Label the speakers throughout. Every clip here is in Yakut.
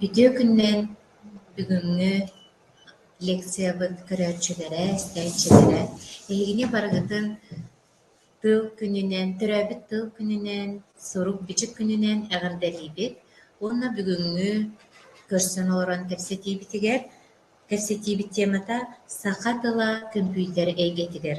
Speaker 1: Үтүө күннээн бүгүҥҥү лекциябыт көрөөччүлэрэ, истээччилэрэ эһигини барыгытын тыл күнүнэн, төрөөбүт тыл күнүнэн, сурук-бичик күнүнэн эҕэрдэлиибит уонна бүгүҥҥү көрсөн олорон кэпсэтиибитигэр, кэпсэтиибит темата Саха тыла көмпүүтэр эйгэтигэр.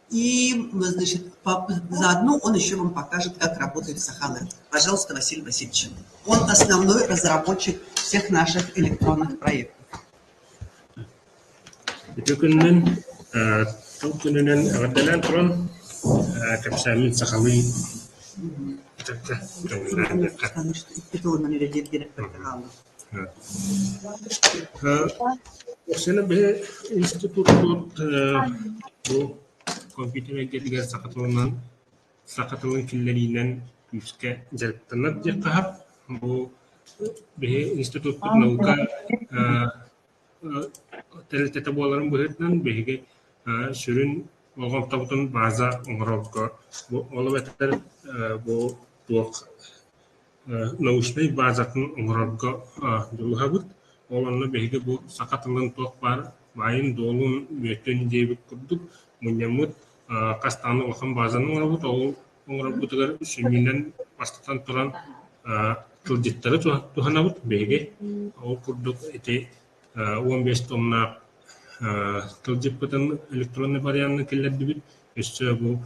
Speaker 1: И, значит, заодно он еще вам покажет, как работает Сахалин. Пожалуйста, Василий Васильевич. Он основной разработчик всех наших электронных проектов. Ити күннүн тыл күнүнэн эҕэрдэлээн туран кэпсээммин сахалыы итирдэ икки тылынан үлэлиир диэн эппитэ хаалла. Өксөөнү биһи институттуур бу компьютер эйгэтигэр саха тылынан, саха тылын киллэриинэн күүскэ дьарыктанар диэххэ бу биһи институтпут наука тэрилтэтэ буоларын быһыытынан биһиги сүрүн болҕомтобутун база оҥорорго ол эбэтэр бу туох научнай баазатын оҥорорго дьулуһабыт. Ол онно биһиги бу саха тылын туох баар маайын-дуолун Бүөтүн диэбит курдук мунньаммыт хас даҕаны улахан баазаны оҥоробут. Ол оҥорорбутугар сүнньүнэн, бастатан туран, тылдьыттары туһанабыт. Биһиги ол курдук ити уон биэс тоннаах тылдьыппытын электроннай варианнан киллэрдибит. Өссө бу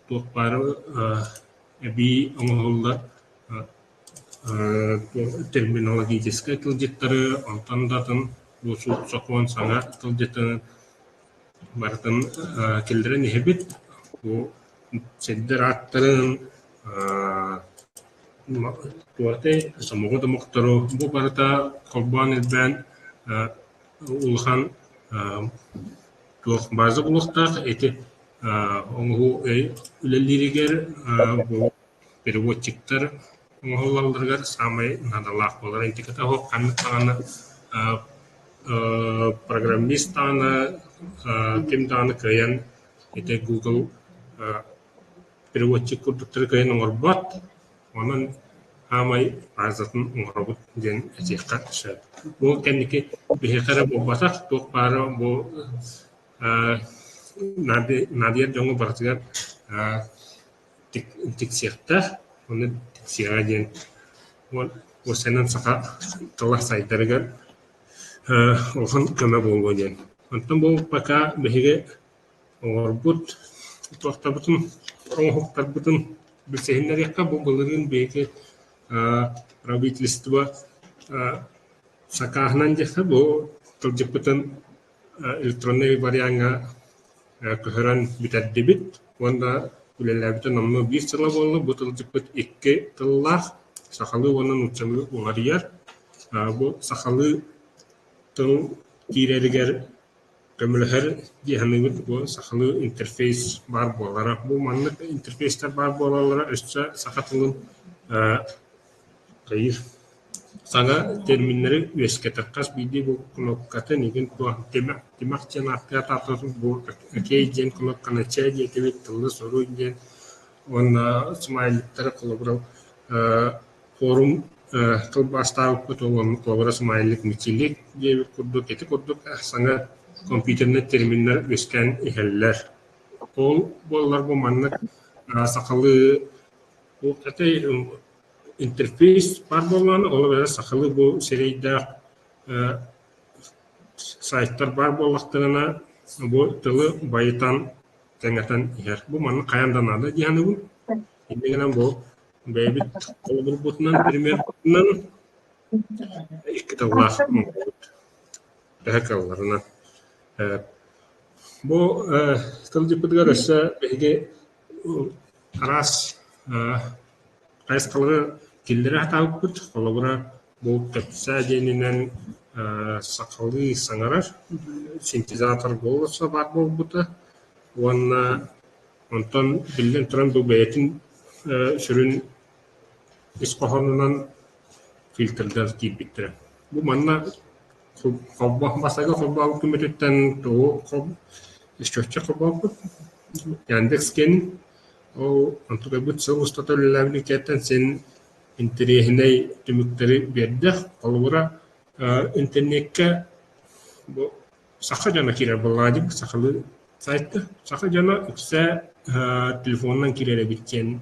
Speaker 1: Туох баара эбии оҥоһуллар терминологическай тылдьыттары, онтон да атын сокуон саҥа тылдьытын барытын киллэрэн иһэбит. Бу сирдэр ааттарын, сомоҕо домохтору, бу барыта холбоон-илбээн улахан туох бааза булуохтаах ити оҥоһуу үлэлииригэр бу переводчиктар оҥоһуллалларыгар саамай наадалаах буолар ентиката суох ханнык даҕаны программист даҕаны ким даҕаны кыайан ити Google переводчик курдуктары кыайан оҥорбот онон саамай баазатын оҥоробут диэн этиэххэ сөп бу кэнники биһиэхэ эрэ буолбатах туох баара бу Ээ, наады- наадыйар дьоҥҥо барытыгар аа тик- тиксиэхтээх, ону тиксиэҕэ диэн уон уопсайынан саха тыла сайдарыгар ээ улахан көмө буолуо диэн. Онтон буолбакка биһиги оҕолорбут туохтарбытын оҥоһуктарбытын билсиһиннэриэххэ, бу былырыын биһиги аа правительство аа сакааһынан диэххэ бу тылдьыппытын электроннай вариаҥҥа көһөрөн бүтэрдибит уонна үлэлээбитэ номнуо биир сыла буолла. Бу тылдьыппыт икки тыллаах – сахалыы уонна нууччалыы уларыйар. Бу сахалыы тыл киирэригэр көмөлөһөр дии саныыбын. Бу сахалыы интерфейс баар буолара. Бу маннык интерфейстэр баар буолаллара өссө саха тылын Саҥа терминнэри үөскэтэр хас биирдии бу кнопкатын игин туох тимэх диэн ааттыа таатарбыт бу окей диэн кнопканы чэ диэтибит тыллы суруй диэн уонна смайликтары холобура ээ форум ээ тылбаастаабыппыт уонна холобура смайлик метелик диэбит курдук ити курдук саҥа компьютернай терминнэр үөскээн иһэллэр ол буоллар бу маннык сахалыы Ол этэй интерфейс баар буоллаҕына, ол эрээри сахалыы бу сирэйдээх сайтар баар буоллахтарына, бу тылы байытан, кэҥэтэн иһэр. Бу маннык хайаан да наада дии саныыбын. Инньэ гынан бу бэйэбит холобурбутунан, примербутунан икки тыллаах муҥхабыт төһө кыалларынан. Бу тылдьыппытыгар өссө биһиги Араас хайысхалары киллэрэ сатаабыппыт. Холобура, бу кэпсээ диэнинэн сахалыы саҥарар синтезатор голоса баар буолбута уонна онтон, биллэн турар, бу бэйэтин сүрүн ис хоһоонунан фильтрга киирбиттэрэ. Бу манна Бассейга холбообут күммүтүттэн тоҕу счетчик холбообут Яндекс.кэн ол онтут ойбут сыл устата үлэлээбит иккиһиттэн син интэриэһинэй түмүктэри биэрдэ. Холобура, интернеккэ бу саха дьоно киирэр былаадьык сахалыы сайтка. Саха дьоно иксэ телефонунан киирэр эбит диэн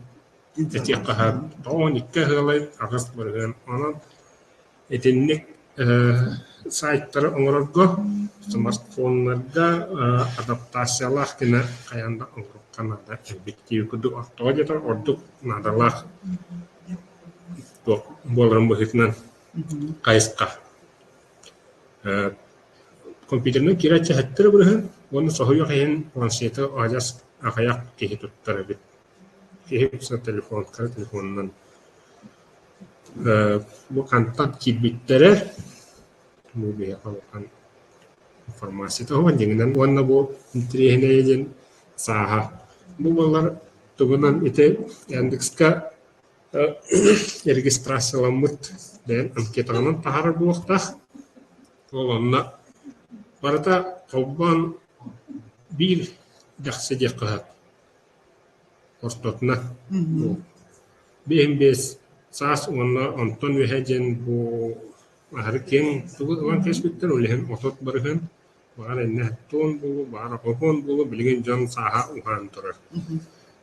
Speaker 1: этиэххэ сөп. Тоҕо он икки ыһыалай аҕыс барыгын. Онон Итинник сайтары оҥорорго, смартфоннарга адаптациялаах гына хайаан да оҥоруохха наада эбит дии курдук ортоҕо диэтэр ордук наадалаах буоларын быһыытынан хайысха компьютерынан киирээччи хаһыаттыыр абырыһын уонна соһуйуох иһин планшеты адьас аҕыйах киһи туттар эбит Киһи тупсан телефонка телефонунан ээ бу хантан киирбиттэрэ бу биһиэхэ улахан информация туһунан дьиҥинэн уонна бу интэриэһинэйэ диэн сааһа бу буоллар тугунан ити Яндекска регистрацияламмыт бэйэм анкетанан таһаарар буолуохтаах ол онно барыта холбоон биир дьахсы диэххэ сөп Ортотуна уу биэһин биэс саас уонна онтон үөһэ диэн бу аһары киэҥ тугу ылан кэспиттэр, ол иһин отот барыһын, баҕар иннэ тоон буолуо, баҕар окоокоон буолуо, билигин дьон сааһа уһаан турар.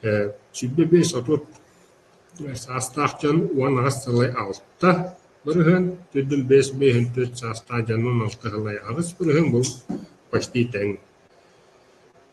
Speaker 1: Ээ сүүрбэ биэс отут саастаах дьон уон аҕыс сылай алта барыһын, төрдүн биэс биэһин төрүт саастаах дьон уон алта сылай аҕыс барыһын, бу почти тэҥ.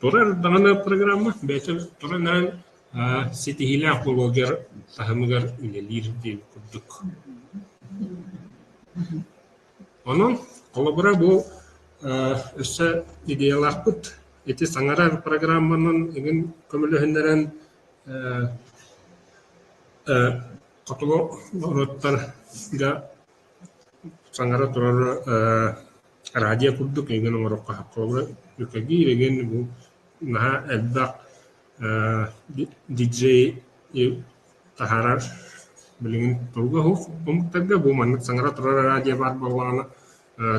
Speaker 1: Турар даҕаны программа бэйэтин турунан ситиһиилээх буолуо дьар таһымыгар үлэлиир диэн курдук. Онон холобура бу өссө идеялаахпыт ити саҥарар программанан эҥин көмөлөһүннэрэн хотулуруттарга Саҥара турар ээ радио курдук эйигин оҥоруохха буолуо. Кэлгий дэгин бу наһаа элбэх ээ диджейи таһаарар билигин туруга уһук. Омуктарга бу маннык саҥара турар радио баар буоллаҕына ээ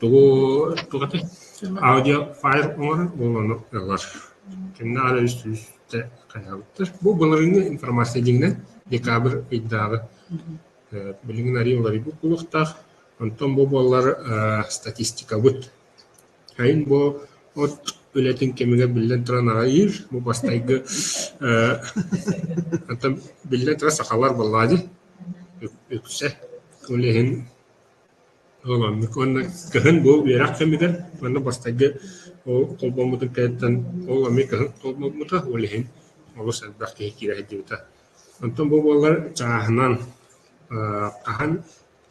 Speaker 1: Тугу тугатый? Аудиофайл оҥорор буолан ылар. Кэннэ аҕа үс сүүс хайаабыттар. Бу былырыыҥҥы информация дьиҥинэн декабрь ыйдааҕы. Э, билигин арыйа уларыйбыт буолуохтаах. Онтон бу буоллар э, статистикабыт. Сайын бу от үлэтин кэмигэр биллэн туран аҕыйыыр. Бу бастайгы э, оттон биллэн туран сахалар буоллаа дии. Үксэ ол иһин Уонна кыһын бу үөрэх кэмигэр манна бастайга ол холбоммутун кэнниттэн ол эмиэ кыһын холбоммута, ол иһин олус элбэх киһи киирэ сылдьыбыта. Онтон бу буоллар чааһынан аа хаһан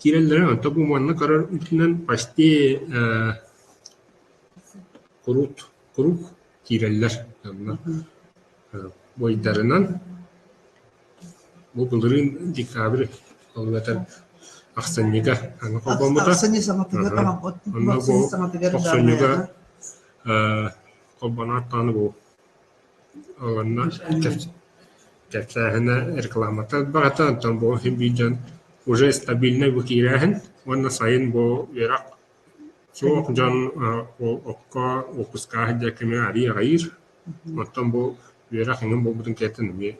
Speaker 1: киирэллэрэ, онтон бу манна көрөр үрдүнэн почти ээ куруук куруук киирэллэр. Буойдарынан Бу былырыын декабрь аллата ахсынньыга аны холбоммута. Ахсынньы саҥатыгар онно бу охсунньуга э холбоноот даҕаны бу онно кэпсээһинэ рекламата барата онтон бу син биир дьон уже стабильнай бу киирээһин уонна сайын бу үөрэх суох дьон э окко выпускааһын диэки арыйар Оттон бу үөрэх эҥин буолбутун кэнниттэн эмиэ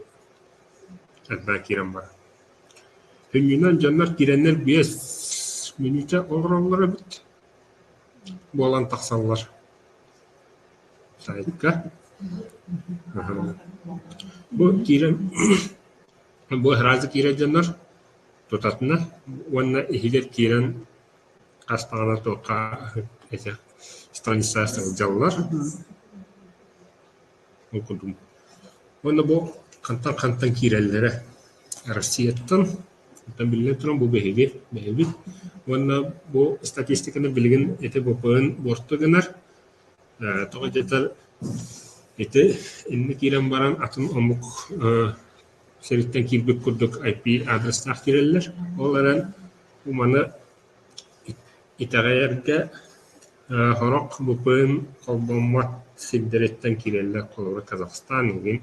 Speaker 1: элбэҕи киирэн барар. Һүнньүнэн дьоннор киирэннэр биэс мүнүүтэ олороллор эбит буолан тахсаллар саайтка. Бу киирэн бу аһараадьы киирэр дьоннор тутатына уонна иһигэр киирэн Хас даҕаны туохха эдэр страницалар сылдьаллар. Ол курдук уонна бу хантан хантан киирэллэрэ Россияттан. Оттон биллэн туран бу биһиги, биһибит. Уонна бу статистиканы билигин ити буквуйун буорту гынар. Ээ тоҕо диэтэр ити иннэ киирэн баран атын омук Сэрииттэн киирбит курдук ай пи аадырыстаах киирэллэр. Ол эрэн маны итэҕэйэргэ э сорох БПИН холбоммот сирдэриттэн киирэллэр. Холобура Казахстан иһин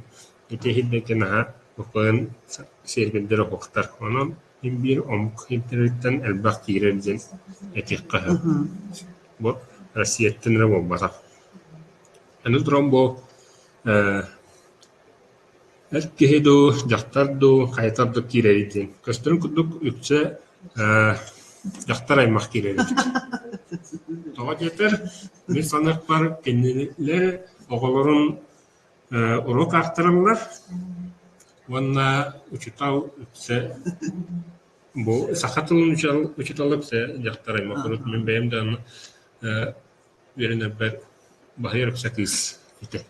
Speaker 1: ити иһирдэтэ наһаа БПИН сиэрбиллэр уһуктар. Онон мин биир омук иһиттэриттэн элбэх киирэр диэн этиэххэ сөп. Бу Россияттан эрэ буолбатах. Аны туран бу э Эр киһи дуу, дьахтар дуу хайатар да киирэрий диэн, көстөрүн курдук үксэ ээ дьахтар аймах киирэр эбит. Тоҕо диэтэр, мин саныахпар кинилэр оҕолорун ээ уруок аахтараллар уонна учуутал үксэ бу саха тылын учуутал учуутала үксэ дьахтар аймах урут мин бэйэм да э үөрэнэрбэр баһыйар ыкса кыыс этэ.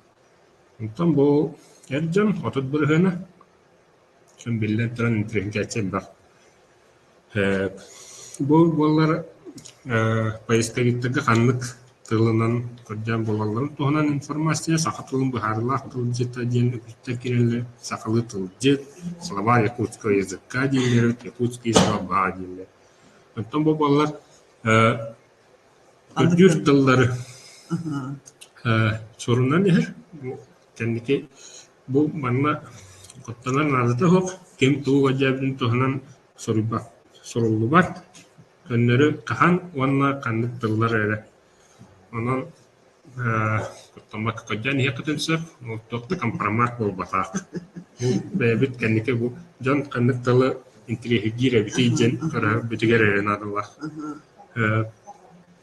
Speaker 1: Онтон бу эр дьон отут бырыһыана, биллэн туран интеллигенцияччы элбэх. Ээ бу буоллар ээ поисковиктарга ханнык тылынан кырдьан буолалларын туһунан информация саха тылын быһаарыылаах тылдьыта диэн үгүстэр киирэллэр. Сахалыы тылдьыт, слова якутского языка дииллэр, якутский слова дииллэр. Оттон бу буоллар ээ Үрдүүр тыллары сурунан иһэр, кэнники бу манна куттанар наадата суох, ким тугу өйдөөбүтүн туһанан суруйбат, суруллубат, көннөрү хаһан уонна ханнык тыллар эрэ. Онон Томмоко кырдьан иһиэххитин сөп, ол туох да компромат буолбатах. Бэйэбит кэнники бу дьон ханнык тылы интириэһиргиир эбитий диэн көрөрбүтүгэр эрэ наадалаах.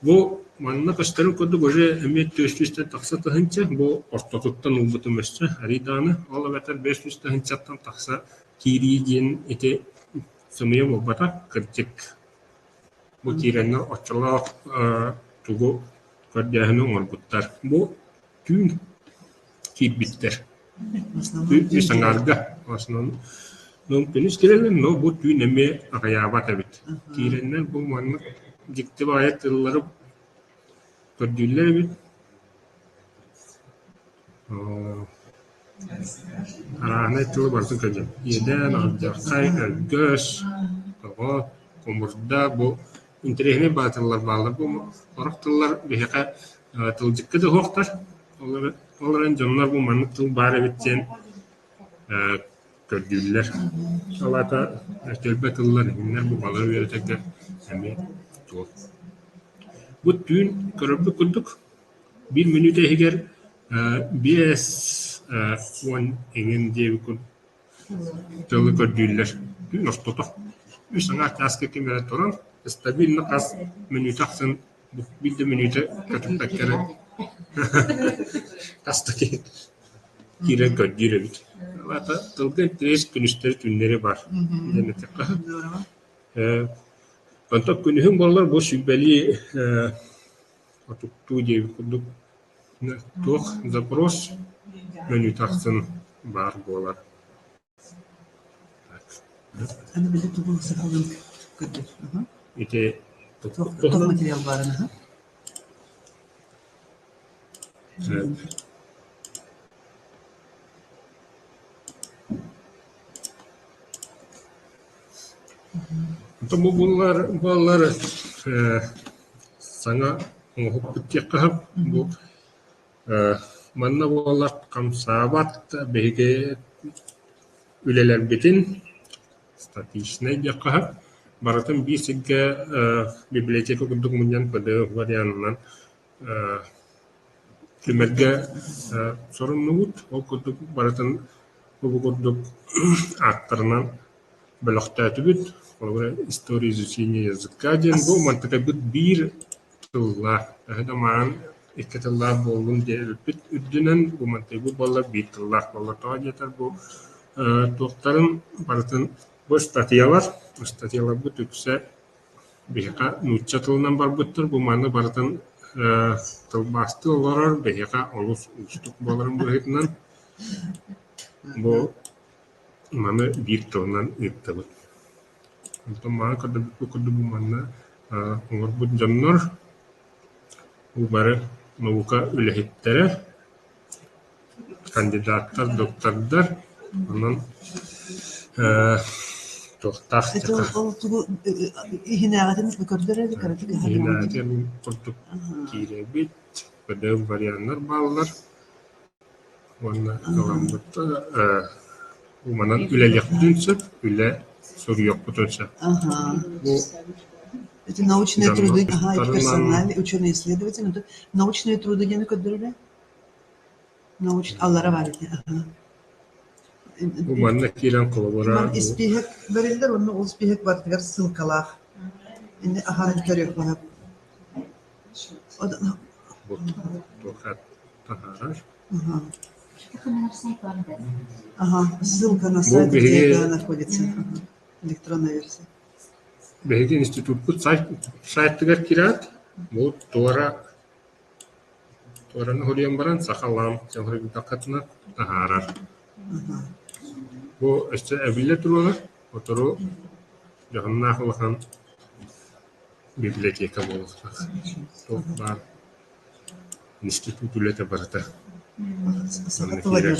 Speaker 1: Бу манна көстөрүн курдук уже эмиэ түөрт сүүстэн тахса тыһыынча бу ортотуттан ылбытым өссө арий даҕаны, ол эбэтэр бэс сүүс тыһыынчаттан тахса киирии диэн ити сымыйа буолбатах, кырдьык. Бу киирэннэр оччолоох тугу көрдөөһүнү оҥорбуттар. Бу түүн киирбиттэр. Үс аҥаарга. Күнүс кэлэлин, но бу түүн эмиэ аҕыйаабат эбит. Киирэннэр бу маннык дьикти баайа тыллары көрдүүллэр эбит Арааһынай тылы барытын кэлдьэн: иэдээн, алдьархай, өлгөс, тоҕо, хомурда бу интэриэһинэй баҕа тыллар бааллар бу орох тыллар биһиэхэ тылдьыкка да уһуохтар. Ол эрэн дьоннор бу маннык тыл баар эбит диэн көрдүүллэр. Ол аата төлбө тыллар итиннэр бу балары үөрэтэргэ эмиэ туһу. Бу түүн көрөрбүт курдук Биир мүнүүтэ иһигэр биэс уон эҥин диэби кун тылы көрдүүллэр. Күн ортото. Үс аҥаар чааска ким эрэ туран стабильно хас мүнүүтэ ахсын биир да мүнүүтэ көтүппэккэ эрэ хас да киһи киирэн көрдүүр эбит. Ваата тылга интэриэс күнүстэри түүннэри баар диэн эттэххэ э онтон күнүһүн буоллар бу сүлбэлии э Отуттуу диэбит курдук, туох запрос мөнүү тахсан баар буолар ити Бу буоллар буоллар ээ саҥа оҥоһукпут диэххэ сөп бу ээ манна буоллар хамсаабат биһиги үлэлэрбитин статичнай диэххэ сөп барытын биир сиргэ библиотека курдук мунньан ПДФ вариантынан Тимиргэ соруннубут, ол курдук барытын бу курдук ааттарынан бөлөхтөөтүбүт, холобура «История изучения языка» диэн бу мантыкайбыт биир тыллаах, төһө да маан икки тыллаах буоллун диэн эппит үрдүнэн бу мантыйбыт буолла биир тыллаах буолла. Тоҕо диэтэр бу туохтарын барытын бу ыстатыйалар, ыстатыйаларбыт үксэ Биһиэхэ нуучча тылынан барбыттар, бу манна барытын тылбаастыы олорор, биһиэхэ олус уустук буоларын быһыытынан бу маны биир тылынан ыыттыбыт. Онтон мааны көрдөрбүппүт курдук бу манна олорбут дьоннор, бу бары наука үлэһиттэрэ Кандидаттар доктордар, онон ээ туохтаах иһинээҕитин мин курдук киирэбит, КДФ варианнар бааллар уонна аламмыттан ээ уманан үлэлиэхпитин сөп, үлэ суруйуохпутун сөп. Бу научные труды, научные труды диэни көрдөрөрө? Научналара баар ити аһы манна киирэн холобура испииһэк бэриллэр уонна ол испииһэк барытыгар ссылкалаах иннэ аһарын көрүөххэ находится электронная версия биһиги институтпут сайтыгар киирээт бу туора Туоран уһулуйан баран сахалаам чалырыйбатаххытына таһаарар. Бу өссө эбиллэ туруоҕа, сотору дьоһуннаах улахан библиотека буолуохтаах. Туох баар институт үлэтэ барыта санна киирэр.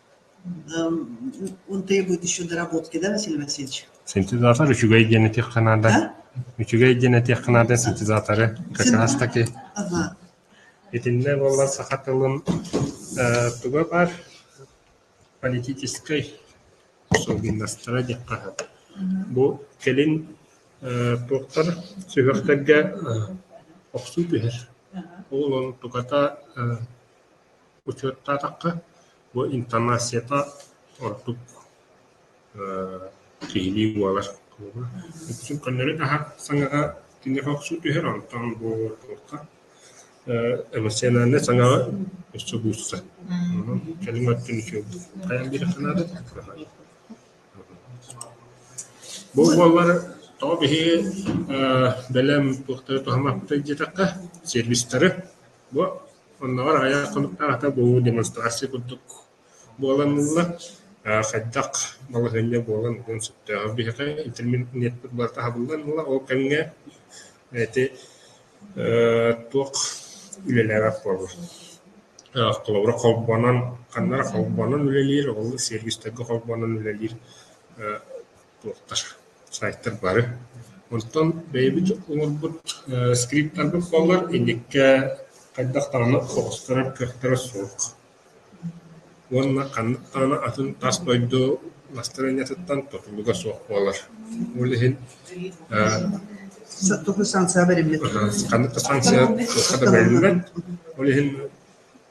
Speaker 1: Он требует еще доработки, да, Василий Васильевич? Синтезатор үчүгэй диэн этиэххэ наада. Үчүгэй диэн этиэххэ наада синтезаторы качаастаки. Ага. Итиннэ буоллар саха тылын э, туга бар политическай особенностара диэххэ наада. Бу кэлин э, туохтар сүһүөхтэргэ э, охсуу түһэр. Ол он туката э, Учуоттаатахха, бу интонацията ордук киһилии буолар куһуга. Иккисин көннөрүн аһар саҥаҕа киниэхэ охсуу түһэр, онтон бу туохха эмоциональнай саҥаҕа өссө буучча. Онон кэлин өттүн үчүгэй хайан биэрэххэ наада Бу буоллар тоҕо биһиги бэлэм туохтары туһаммаппытай диэтэххэ, сервистары Бу оннооҕор аҕыйах хонуктаах ата бу демонстрация курдук буоланылла. хайдах балаһыанньа буолан уон сөптөөҕө биһиэхэ интернетпит барыта аһыллан ылла. Ол кэмҥэ ити туох үлэлээбэт буолла? холобура, холбонон ханна эрэ холбонон үлэлиир, ол сервистэргэ холбонон үлэлиир туохха сайтар бары. Онтон бэйэбит оҥорбут э, скриптарбыт буоллар инникэ хайдах даҕаны оҕустарар кыахтара суох. Уонна ханнык даҕаны атын тас дойду настроениетыттан тутулуга суох буолар. Ол иһин э, Току санкция бэриммит. ханнык да санкция туохха да бэриллибэт. Ол иһин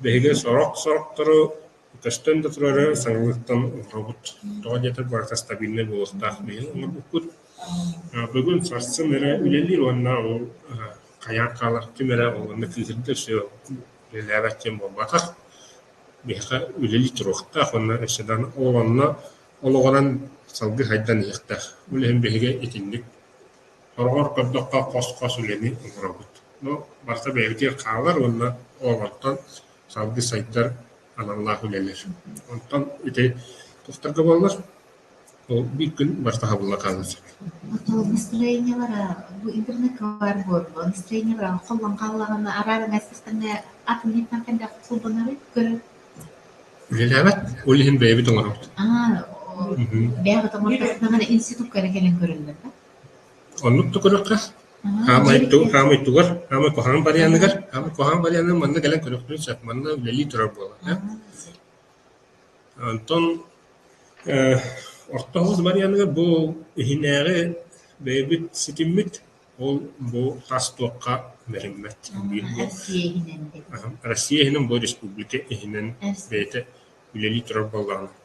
Speaker 1: биһиги сорох-сорохтору Көстөн да турары саҥалыктан олоробут, тоҕо диэтэр барыта стабильнай буолуохтаах диэн оҥорбуппут. Бүгүн сарсын эрэ үлэлиир уонна ол хайаан хаалар ким эрэ ол уонна кыыһырдар өссө үлэлээбэт диэн буолбатах. Биһиэхэ үлэлии туруохтаах уонна өссө да онно олоҕуран салгыы сайдан иһиэхтээх. Үлэһин биһиги итинник сороҕор көрдөххө хос-хос үлэни оҥоробут. Но барыта бэйэбитигэр хаалар уонна олоҕуттан Саалдьы сайдар аналлаах үлэлэр. Онтон ити тустарга буоллар ол биир күн барыта хабылла хаалыан сөп. Настроениелара бу интернет-кылаар буоллун, настроениелара холлон хааллаҕына араара майсыстаҥҥа ат минньиттэн хайдах кулбанары көрөр? Үлэлээбэт, ол иһин бэйэбит оҥоробут. Аа, бэйэҕит оҥорбоккун институкка эрэ кэлэн көрөллөр да? Оннук да көрүөххэ. Хаамай тугу хаамай тугар, хаамай куһаҕан барыйааныгар, хаамай куһаҕан барыйаанынан манна кэлэн көрүөхтэрин сөп. Манна үлэлии турар буолар ээ. Онтон э орто оһуос барыйааныгар бу иһинээҕи бэйэбит ситиммит, ол бу тас туохха бэриммэт. Россия иһинэн бу республика иһинэн бэйэтэ үлэлии турар буоллаҕына.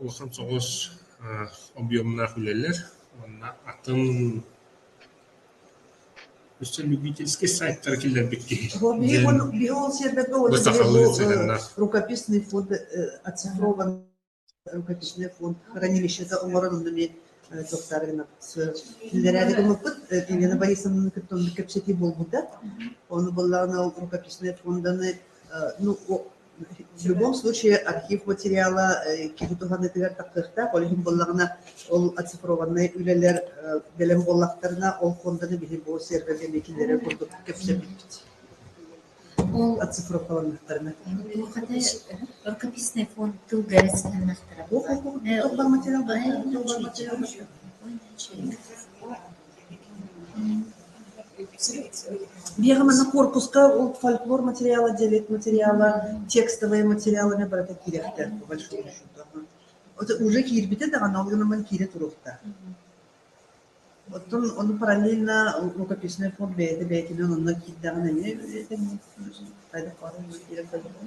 Speaker 1: улахан соҕус объемнаах үлэлэр уонна атын өссө любительский сайттары киллэрбит киһи рукописный фонд рукописный фонд хранилищета оҥорон эмиэ туохтаары киллэрээри гыммыппыт Елена Борисовнаны кытта кэпсэтии буолбута ону буллаҕына ол рукописный фонданы ну В любом случае архив материала киһи туһаныытыгар тахсыахтаах, ол иһин буоллаҕына ол оцифрованнай үлэлэр бэлэм буоллахтарына, ол фонданы биһи бу сервергэ миитиннэрэ курдук кэпсэппит оцифрованнахтарына. Рукописный фонд тылга эрэстэһиннэхтэрэ. Бу материал баай материал Биһиэхэ манна корпуска ол фольклор материала, дьэлет материала, текстовые материаллар барыта киирэхтэр по большому счету. Это уже киирбитэ даҕаны ол гынан киирэ туруохтаах. Оттон ону параллельно рукописный фон бэйэтэ бэйэтинэн онно киирдэҕин эмиэ үөрэтэҥҥин хайдах баҕарар киирэн көрдөххө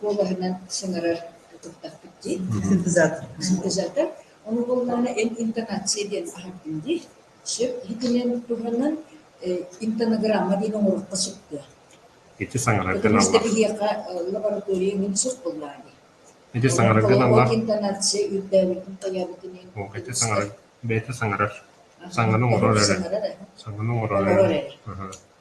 Speaker 1: куобаһынан сыҥарар туттахпыт дии. Синтезатор. Синтезатор. Ону буоллаҕына эн интонация диэн аһардын дии. Сөп иһитинэн туһанан интонограмма диэн оҥороххо сөптөөх. Ити саҥараргын аллар. Биһиэхэ лаборатория мин сөп буллаа дии. Ити саҥараргын аллар. Интонация үрдээбитин тойобутун ин. О, эти саҥарар. Бэйэтэ саҥарар. Саҥаны оҥорор эрэ. Саҥаны оҥорор эрэ.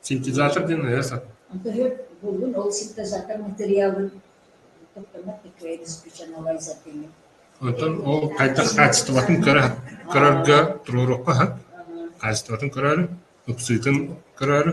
Speaker 1: Синтезатор диэн ыйа сатыыр Оттон ол хайдах хаачыстыбатын көрө көрөргө туруоруохха үһү хаачыстыбатын көрөөрү ыксыытын көрөөрү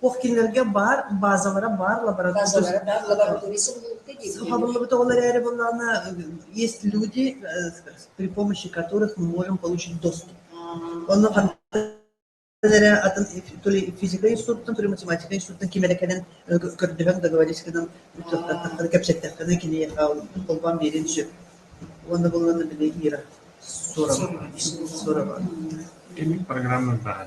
Speaker 1: Туох кинилэргэ баар баазалара баар лаборатория сохранилыбыт ол эрээри буоллаҕына есть люди при помощи которых мы можем получить доступ онно эрэ атын то ли физика институттан то ли математика институттан ким эрэ кэлэн көрдөһөн договорецканан кэпсэттэххинэ кини холбоон биэриэн сөп уонна булунна били ира сорова сорова программа баһа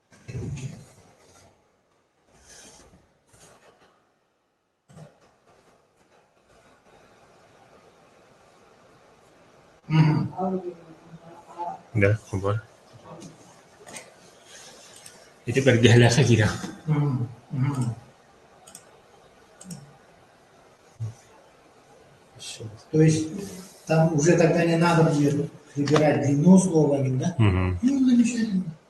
Speaker 1: Дэ, хобор. Ити бэргэһэлээхэ киирэн. То есть там уже тогда не надо будет выбирать длину слова именно. Мгм. Ну, замечательно.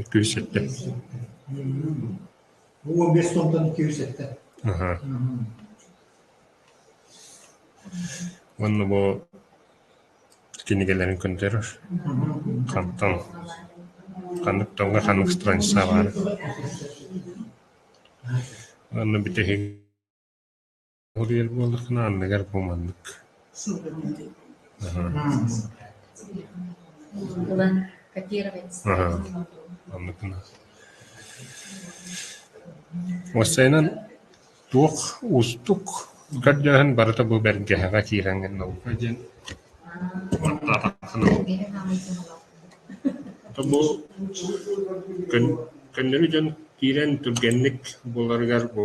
Speaker 1: Икки үс сэттэ Уо биэс тонтон икки үс сэттэ аха уонна бу кинигэлэрин көрдөрөр хантан ханнык тылга ханнык страница баара уонна бүтэһик Ол иһэр буоллаххына анныгар бу маннык аһа анныкына уопсайынан туох уустук көрдөөһүн барыта бу бэргэһэҕэ киирэн гынна диэн бу көннөрү дьон киирэн түргэнник буларыгар бу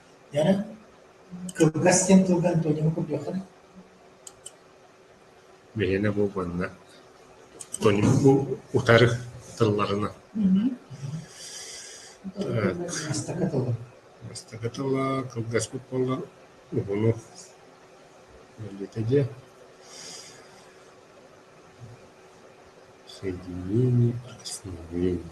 Speaker 1: Дьэ, кылгас диэн тылга Антониҥы курдуохха даа Биһиэнэ бу манна Антоним бу утары тылларынан Бастакы тылым Бастакы тыла кылгаспыт буоллар уһуну Мэллитэ диэ Соединение основления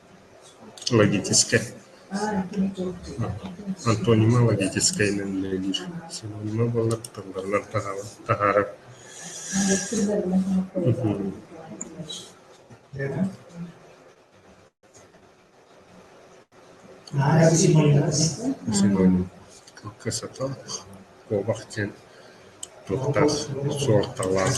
Speaker 1: логическай антонима логическайынан үлэлиир синонима буолар тылларынан таһаарар синоним кылгасатал куобах диэн туохтаах суолталаах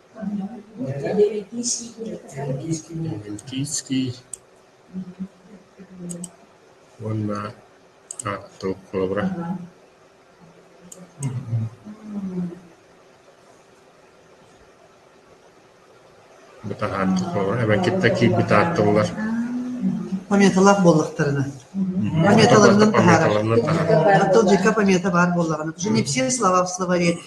Speaker 1: Кийский уонна ааттаабыт холобура эбэн кытта киирбит ааттыллар Пометалаах буоллахтарына пометаларынан таһаарар оттон дьикка помета баар буоллаҕына не все слова в словаре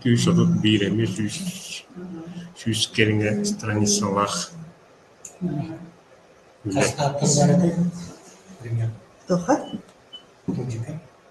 Speaker 1: Кыыс отут биир эмиэ сүүс сүүс кэриҥэ страницалаах үлэ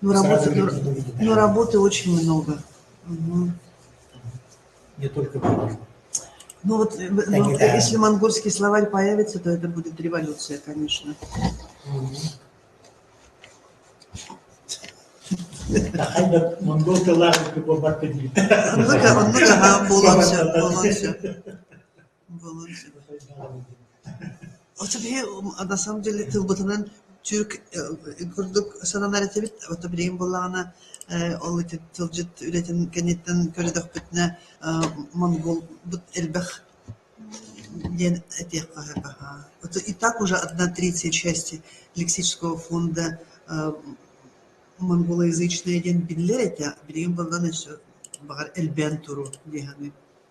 Speaker 1: но работы очень много ну вот если монгольский словарь появится то это будет революция конечно монгол тыллаах буолбакка дии оннук оһоон буолуон сөп буолуон сөп Оччо киһи на самом деле тылбытынан түүк курдук сананар этибит, ото билигин буоллаҕына ол ити тылдьыт үлэтин кэнниттэн көрдөхпүтүнэ монгуолбут элбэх диэн этиэххэ аһаа. Ото и так уже одна третья части лексического фонда монгулоязычная диэн биллэр этэ, билигин буоллаҕына өссө баҕар элбээн туруо дии саныыбын.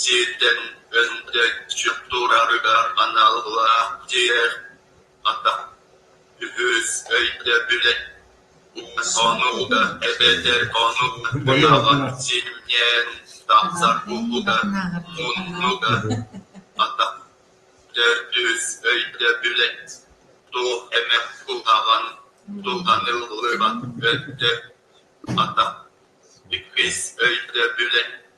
Speaker 1: сииртэн өҥдөй сүк туораарыгар аналлаах дьиэр хата үһүс өйдөбүлэ сонуга эбэтэр хонуга ынаҕар симнээн тахсар уһуга муннуга хата төрдүс өйдөбүлэ туох эмэ куһаҕан туһаныллыбат өттө хата иккис өйдөбүлэ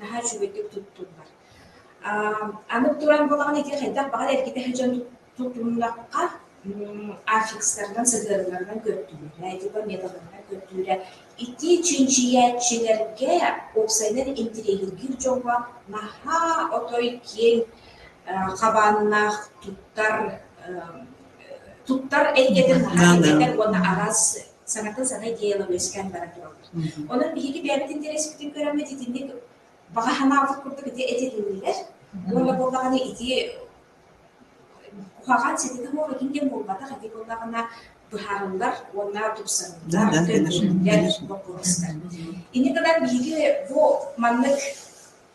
Speaker 1: наһаа үчүгэйдик туттуллар. Аны туран буолаҕын ити хайдах баҕар эргитэ дьон тутуннахха, аффикстарынан, сыһыарыыларынан көрдүүрэ, итиитэ металарынан көрдүүрэ. Ити чинчийээччилэргэ, уопсайынан интириэһиргиир дьоҥҥо наһаа отой киэҥ хабааннаах туттар туттар эйгэтин наһаа үчүгэй уонна араас саҥата-саҥа идеяла үөскээн баран турабыт. Онон биһиги бэйэбит интэриэспитин көрөммүт итинник баҕа санаабыт курдук ити этилиннилэр. Уонна буоллаҕына ити куһаҕан сититэ буолатын диэн буолбатах ити буоллаҕына быһаарыллар уонна тупсарыллар боппуруостар. Инники гынан биһиги бу маннык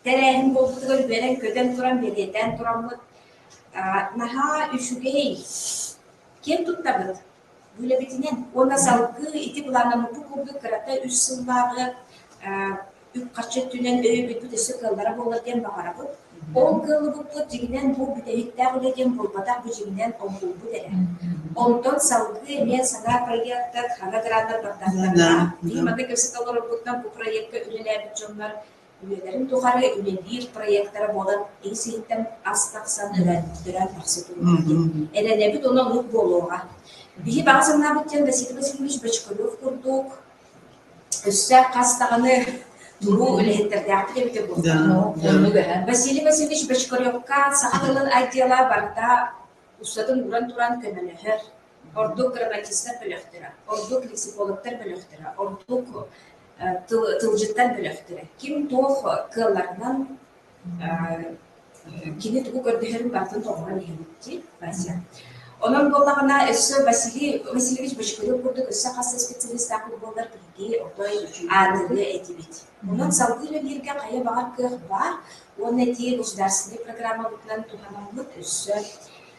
Speaker 1: тэрээһин буолбутугар үөрэн көтөн туран бэлиэтээн тураммыт наһаа үчүгэй ким туттабыт Үлэбитинэн уонна салгыы ити былааннаммыппыт курдук кырата үс сыллааҕы үп-харчы өттүнэн өйөбүлбүт өссө кыаллара буолар диэн баҕарабыт. Ол кыаллыбыппыт дьиҥинэн бу бүтэһиктээх үлэ диэн буолбатах бу дьиҥинэн оҥоһуллубут эрэ. Онтон салгыы эмиэ санаа проектар, ханна граннар бардахтарына, дии манна кэпсэтэ олорорбутунан бу проекка үлэлээбит дьоннор Үлэлэрин тухары үлэлиир проектара буолан ис-иһиттэн ас тахсан өлөн, төрөөн тахса турбут. Эрэнэбит уонна луук буолуоҕа. Биһи баҕа санаабыт диэн Василий Васильевич Бочкарев курдук өссө хас даҕаны туруу үлэһиттэрдээхпит эбитэ буоллар. Василий Васильевич Бочкаревка саха тылын отдела барыта устатын уран туран көмөлөһөр. Ордук драматистар бөлөхтөрө, ордук лексикологтар бөлөхтөрө, ордук тылдьыттар бөлөхтөрө ким туох кыалларынан кини тугу көрдөһөрүн барытын толорон иһэн итии Вася. Онон буоллаҕына өссө Василий Васильевич Бочкулов курдук өссө хас да специалистаах буоллар биһиги отой аанырыа этибит. Онон салгыы үлэлииргэ хайа баҕар кыах баар уонна этии государственнай программабытынан туһанаммыт өссө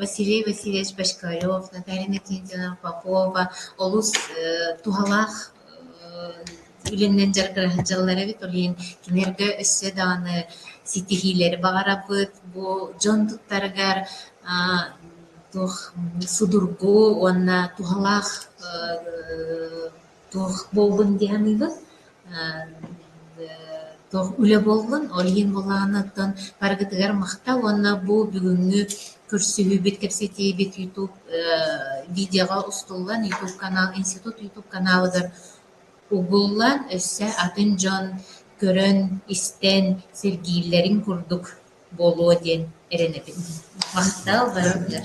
Speaker 1: Василий Васильевич Пошкарев, Наталья Иннокентьевна Попова олус туһалаах үлэнэн дьарыктаһар дьаллар эбит. Ол иһин кинилэргэ өссө даҕаны ситиһиилэри баҕарабыт. Бу дьон туттарыгар аа туох судургу уонна туһалаах Туох буоллун дии саныыбын, туох үлэ буоллун, ол иһин былааныттан барыгытыгар махтал уонна бу бүгүҥҥү көрсүһүүбүт, кэпсэтиибит ютуб видеоҕа устуллан ютуб канал институт ютуб каналыгар угуллан, өссө атын дьон көрөн, истэн, сэргииллэрин курдук буолуо диэн эрэнэбин. Махтал барытыгар.